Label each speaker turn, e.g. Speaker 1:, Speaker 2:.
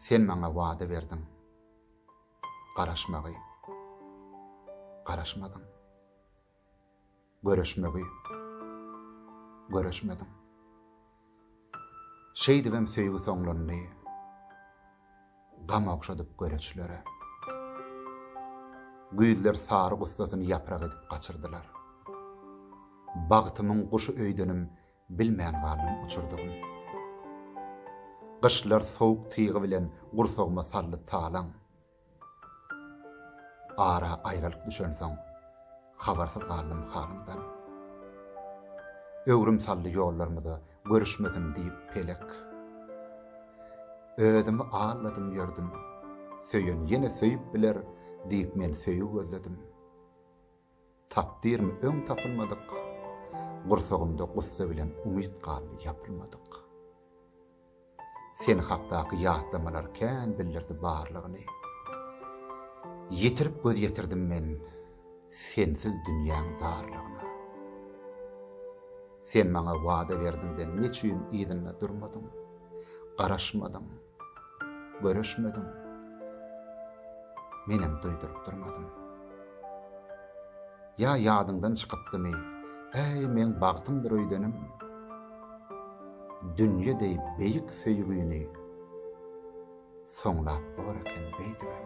Speaker 1: Sen maňa wada berdiň garaşmagy, garaşmadyň, Görüşmegi, görüşmediň. Şeýdibem söýgi soňlandy, Gam ogşadyp göreçlere. Güýzler sary gussasyny ýaprak edip gaçyrdylar. Bagtymyň guşy öýdenim Bilmän galdym uçurdygym. Gyşlar sowuk tygy bilen gursagyma saldy talaň. Ara aýralyk düşensoň, habarsyz galdym halyňdan. Öwrüm saldy ýollarymyza görüşmesin diýip pelek. Özümi aldadym ýördüm, söýen ýene söýüp biler diýip men söýgi gözledim. Tapdyrmy öň tapylmadyk, Gursagymda gussa bilen umyt galdy ýapylmadyk. Sen hakdaky ýatlamalar kän bildirdi barlygyny. Ýitirip göz ýetirdim men sensiz dünýäň zarlygyna. Sen maňa wada berdiňden neçüýn yzynda durmadyň, garaşmadyň. Görüşmediň. Menem duýduryp durmadym. Ýa ýadyňdan çykypdymy, äý meň bagtymdyr öýdenim. Dünýe deý beýik söýgini soňlap bor eken beýdibem.